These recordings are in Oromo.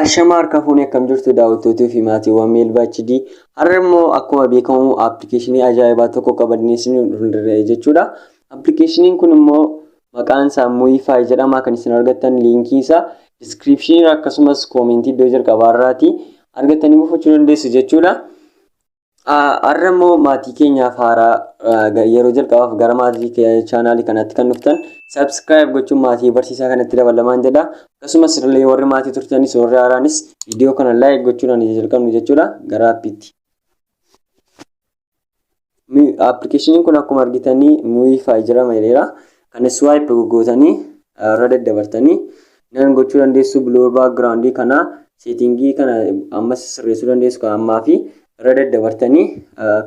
Ashama harka fuunee akkam jirtu daawwattootii fi maatiiwwan Meelbaa HD. Har'a immoo akkuma beekamu appilikeeshinii ajaa'ibaa tokko qabannee isin dhufnee jechuudha. Appilikeeshiniin kun immoo Maqaan isaa Muify jedhama kan isin argattan liinkii isaa description irra akkasumas koomentii iddoo jalqabaa irraati argattanii buufachuu dandeessu jechuudha. Har'a immoo maatii keenyaaf haaraa yeroo jalqabaaf gara maatii chaanaalii kanatti kan dhuftan subscribe gochuun maatii barsiisaa kanatti dabalamaan jedha. Akkasumas illee warri maatii turtanis warri haaraanis viidiyoo kana like gochuudhaan ija jalqabnu jechuudha gara appiitti. Appilikeeshiniin kun akkuma argitanii nuyi faayijirama jedheera. Kana swipe goggootanii irra daddabartanii nan gochuu dandeessu blur background kana seetingii kana ammas sirreessuu dandeessu kan ammaa fi irra daddabartanii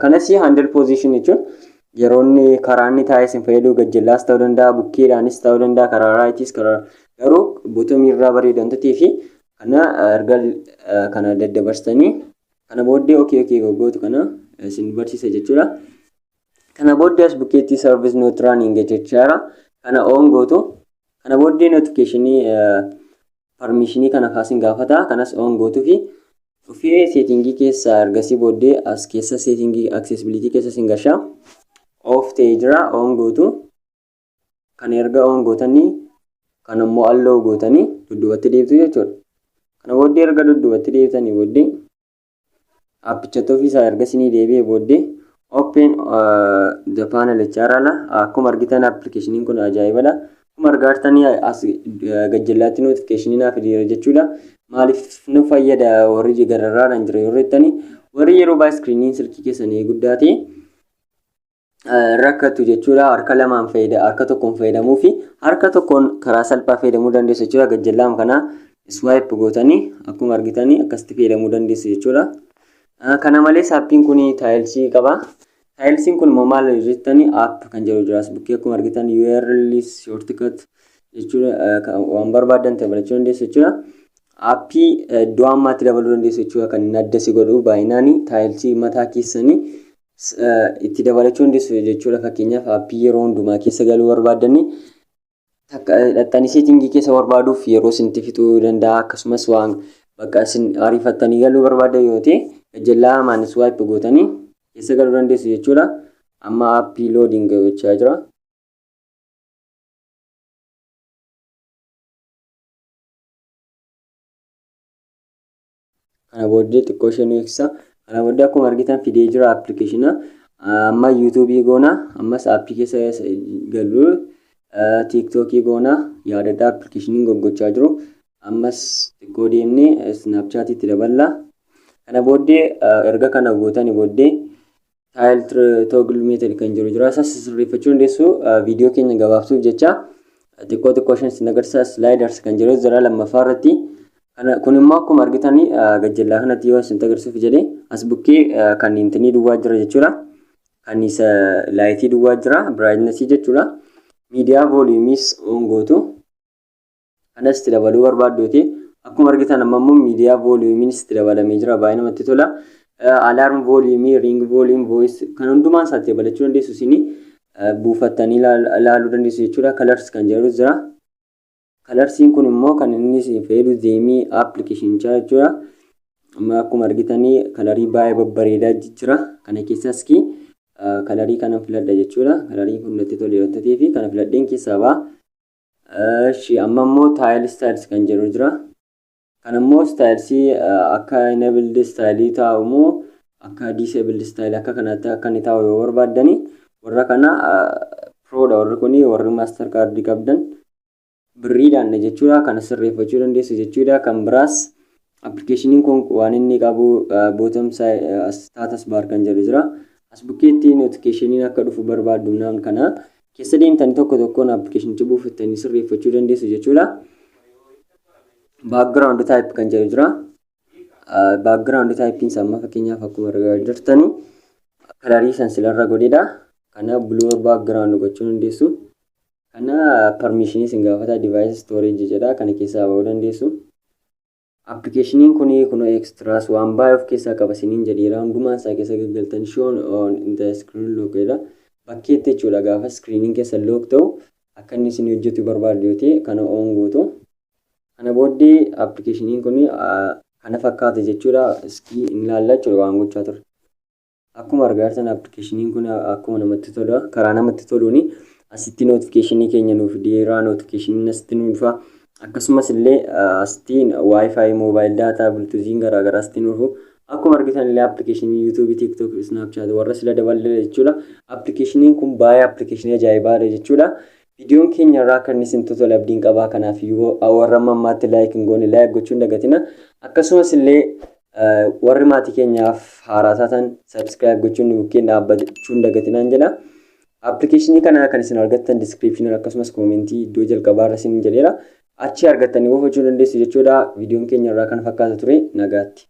kanas handle position jechuun yeroo inni karaa inni taa'ee isin fayyaduu gajjallaas ta'uu danda'a bukkeedhaanis ta'uu danda'a karaa raayitis karaa garuu botomii irraa bareedu wantatee fi kana erga kana daddabarsitanii Kana booddee ok ok goggootu kana isin barsiisa jechuudha. Kana booddee as bukkeetti service not running jechaara. Kana on gootu. Kana booddee notificationii permissionii kana kaasin gaafata. Kanas on gootu fi dhufee seetingii keessa ergasii booddee as keessa seetingii accessibility keessa sin gasha. Off ta'ee jira on gootu. Kan erga on gootanii kan ammoo allow gootanii dudduubatti deebtu jechuudha. Kana booddee erga dudduubatti deebitanii booddee appichatti ofiisaa erga isinii deebi'ee booddee open the panel jechaarra ala akkuma argitan appilikeeshiniin kun ajaa'ibadha. Akkuma argaa jirtanii as gajjallaatti notifikashinii naaf fideera jechuudha. Maaliif nu fayyada warri gararraadhaan jira yoo jettanii warri yeroo baay'ee iskiriiniin silkii keessanii guddaa ta'e rakkatu jechuudha. Harka lamaan fayyada harka tokkoon fayyadamuu fi harka tokkoon karaa salphaa fayyadamuu dandeessu jechuudha. Gajjallaam kana swipe gootanii akkuma argitanii akkasitti fayyadamuu dandeessu jechuudha. Kana malees appiin kun taayilsii qaba. Taayilsiin kun immoo maal jettanii app kan jedhu jiraas bukkee akkuma argitan URL shortcut jechuudha waan barbaadan dabalachuu dandeessu jechuudha. Appii iddoo ammaatti dabaluu dandeessu jechuudha kan inni adda si godhu baay'inaan taayilsii mataa keessanii S, Itti dabalachuu dandeessu jechuudha fakkeenyaaf aappii yeroo hundumaa keessa galuu barbaaddanne takka dhaxxanii seetingii keessa barbaaduuf yeroo isinitti fixuu danda'a akkasumas waan bakka isin ariifattanii galuu barbaaddan yoo ta'e gajjallaa hamaan swipe gootanii keessa galuu dandeessu jechuudha amma aappii loading gochaa jira. Kana booddee xiqqoo ishee nu eegsisa. Kana booddee akkuma argitan fidee jira appilikeeshina. Amma yuutuubii goona. Ammas aappii keessa gallu tiiktookii goona. Yaadadhaa appilikeeshiniin goggochaa jiru. Ammas xiqqoo deemnee isnaapchaatiitti daballa. Kana booddee erga kana gootani booddee taayil toogil meetod kan jiru jira isas sirreeffachuu dandeessu viidiyoo keenya gabaabsuuf jecha xiqqoo xiqqoo shan isin agarsiisa slaayidars kan jiru jira lammaffaa irratti kun immoo akkuma argitan gajjallaa kanatti yoo isin agarsiisuuf jedhe as bukkee kan intinii duwwaa jira jechuudha kan isa laayitii duwwaa jira biraayitnesii jechuudha miidiyaa vooliyumiis oon gootu Kanas itti dabaluu barbaadduuti. Akkuma argitan amma immoo miidiyaa vooliyuumiin itti dabalamee jira. Baay'ee namatti tola. Alarm vooliyuumii, ring vooliyuum, voice kan hundumaa isaa itti dabalachuu dandeessu isin buufattanii ilaaluu dandeessu jechuudha. Colors kan jedhu jira. Colorsiin kun immoo kan inni isin fayyadu zeemii appilikeeshinichaa jechuudha. Amma akkuma argitanii kalarii baay'ee babbareedaa jira. Kana keessaas kii kalarii kanan filadha jechuudha. Kalarii kun natti toleera ta'ee fi kana filadheen keessaa ba'a. Eshi amma immoo taayil istaayils kan jedhu jira. Kan immoo istaayilsii akka enabled istaayilii taa'u moo akka disabled istaayilii akka kanaatti akka inni taa'u yoo barbaaddani warra kana piroodha warri kuni warri maaster kaardii qabdan birriidhaan jechuudha kana sirreeffachuu dandeessu jechuudha kan biraas Application kun waan inni qabu bottom side status bar kan jedhu jira. As bukkeetti notification akka dhufu barbaaddu naan kana keessa deemtanii tokko tokkoon applicationicha buufattanii sirreeffachuu dandeessu jechuudha. Background type kan jedhu jira. Background type isa amma fakkeenyaaf akkuma argaa jirtani kalarii san silarra godhedha. Kana blur background gochuu dandeessu. Kana permission isin gaafata device storage jedha kana keessaa ba'uu dandeessu. Appikeeshiniin kun kunoo extras waan baay'ee of keessaa qaba isiniin jedheera hundumaan isaa keessa gaggaltan shown on in the screen lock jedha bakkeetti jechuudha gaafa screeniin keessa lock ta'u akka inni isin hojjetu barbaaddu yoo ta'e kana on gootu kana booddee appikeeshiniin kun kana fakkaata jechuudha iskii hin ilaalla jechuudha waan gochaa turre. Akkuma argaa jirtan application kun akkuma namatti tola karaa namatti toluun asitti notification keenya nuuf fideera notification asitti nuuf dhufa akkasumas illee asitti wifi mobile data bluetoothiin garaagaraa asitti nuuf dhufu akkuma argitan illee application youtube tiktok snapchat warra sila daballe jechuudha application kun baay'ee application ajaa'ibaadha jechuudha viidiyoon keenya irraa kan isin totola abdiin qabaa kanaaf warra mammaatti laayik hin goone laayik gochuun dagatina akkasumas illee Warri maatii keenyaaf haaraa taatan subscribe gochuun nu bukkeen dhaabbachuu hin dagatinaan jedha. Appilikeeshinii kana kan isin argattan description akkasumas koomentii iddoo jalqabaa irra isin jedheera. Achi argattanii buufachuu dandeessu jechuudha. Viidiyoon keenya irraa kana fakkaata ture nagaatti.